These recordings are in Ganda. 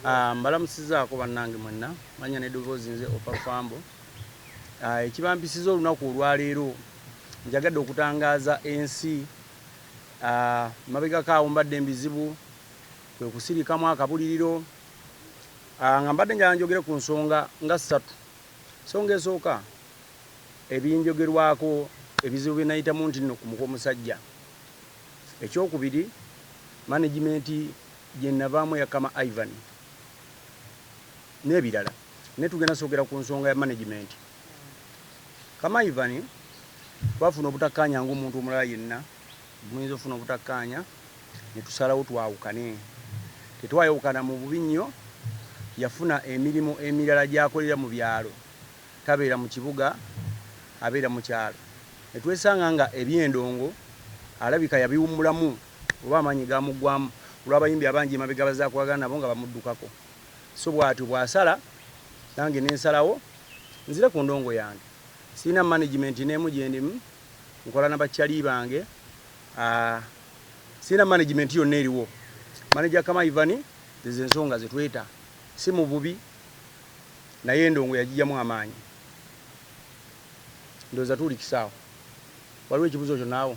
Ah, mbalamusizaako bannange mwenna manya nedoboozi nze opafambo ah, ekibampisiza olunaku olwaleero njagadde okutangaaza ensi ah, mabegako awo mbadde mbizibu kwe kusirikamu akabuliriro nga mbadde njala njogere ku nsonga nga ssatu songa esooka ebinjogerwako ebizibu bye nayitamu nti nno kumuka omusajja ekyokubiri managimenti gye navaamu eya Kama Ivan n'ebirala naye tugenda sookera ku nsonga ya manegimenti. Kama Ivan twafuna obutakkaanya ng'omuntu omulala yenna muyinza okufuna obutakkaanya ne tusalawo twawukane. Tetwayawukana mu bubi nnyo, yafuna emirimu emirala gy'akolera mu byalo tabeera mu kibuga abeera mu kyalo ne twesanga ng'eby'endongo alabika yabiwummulamu. Oba amaanyi gaamuggwaamu olw'abayimbi abangi emabega abazaakolagana nabo nga bamuddukako. Sso bw'atyo bw'asala nange ne nsalawo nzire ku ndongo yange. Sirina management n'emu gye ndimu, nkola na ba Chali bange. Aah sirina management yonna eriwo. Maneja Kama Ivan ze ze nsonga ze tweta. Si mu bubi naye endongo yagiggyamu amaanyi. Ndowooza tuulikise awo. Waliwo ekibuzo kyonna awo?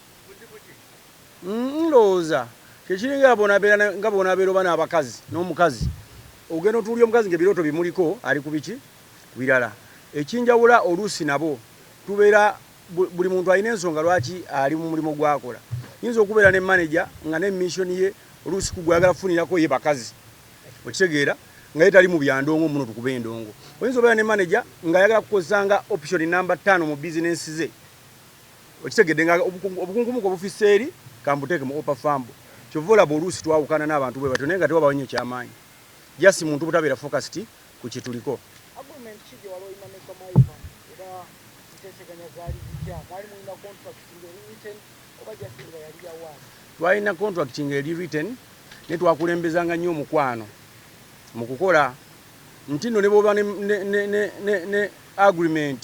Mm, ndowooza kyekiringa bwonabeera nga bwonabeera oba n'abakazi n'omukazi ogenda otuulya omukazi nga ebirooto bimuliko ali ku biki ku birala ekinjawula oluusi nabo tubeera buli muntu alina ensonga lwaki ali mu mulimu gwakola yinza okubeera ne manaja nga ne mission ye oluusi kugwagala kufunirako ye bakazi okitegeera nga ye tali mu byandongo muno tukuba endongo oyinza obeera ne manaja ng'ayagala kukozesa nga option namba ttaano mu bizinensi ze Okitegedde nga obukungu obukungumu ko bufisse eri kambuteeke mu opa fambo kyova olaba oluusi twawukaana n'abantu bwe batyo naye nga tewabawo nnyo kyamaanyi just muntu butabeera focused ku kyetuliko. Agreement ki gye wali olina ne Sir Ivan era enteeseganya zaali zitya? Mwali mulina contract nga eri written oba just nga yali ya words? Twalina contract nga eri written naye twakulembezanga nnyo omukwano mu kukola nti nno ne bw'oba ne ne ne ne ne agreement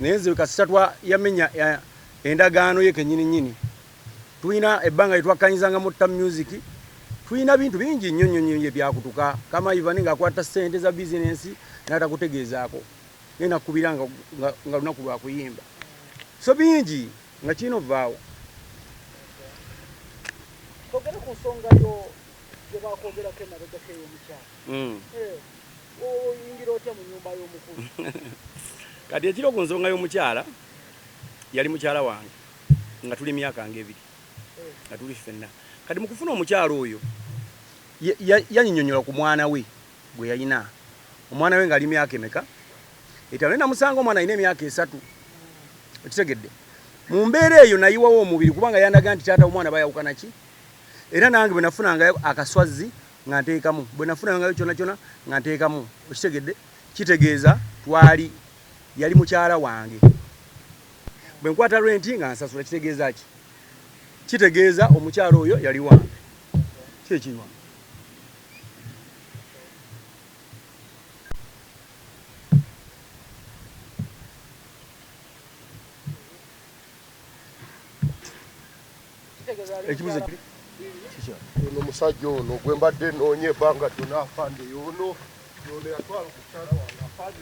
naye nze kasita twa yamenya eh, endagaano ye kenyini nyini tulina ebbanga lyetwakkanyizanga mu ta music tulina bintu bingi nnyo nnyo nnyo ebyakutuka kama ivan ng'akwata ssente za bizinensi n'atakutegeezaako naye nakubira nga lunaku lwa kuyimba so bingi nga kirina ovaawo twogere ku nsonga yo gye bakwogerako emabegako ey'omukyalo hmm. eh. Oyingira otya mu nyumba y'omukulu? Kati ekiro ku nsonga y'omukyala, yali mukyala wange nga tuli myaka nga ebiri nga tuli ffenna. Kati mu kufuna omukyala oyo yanyinyonyola ku mwana we gwe yalina. Omwana we ng'ali myaka emeka? Etaano. Naye namusanga omwana alina emyaka esatu. Okitegedde? Mu mbeera eyo nayiwawo omubiri kubanga yandaga nti taata w'omwana bayawukana ki? Era nange bwe nafunanga akaswazzi. nga nteekamu, bwe nafunangayo kyona kyona nga nteekamu, okitegedde, kitegeeza twali, yali mukyala wange, bwe nkwata renti nga nsasula, kitegeeza ki? Kitegeeza omukyala oyo yali wange, kyekinywa. ekibuzo ono musajja ono gwe mbadde noonya ebbanga lyona afande yono yono yatwala okukyala wange afande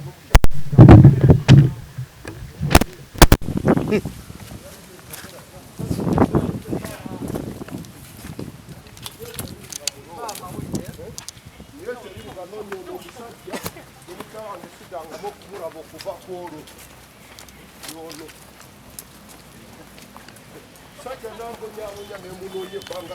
Sajja n'ambonyaabonya ne munoonye ebbanga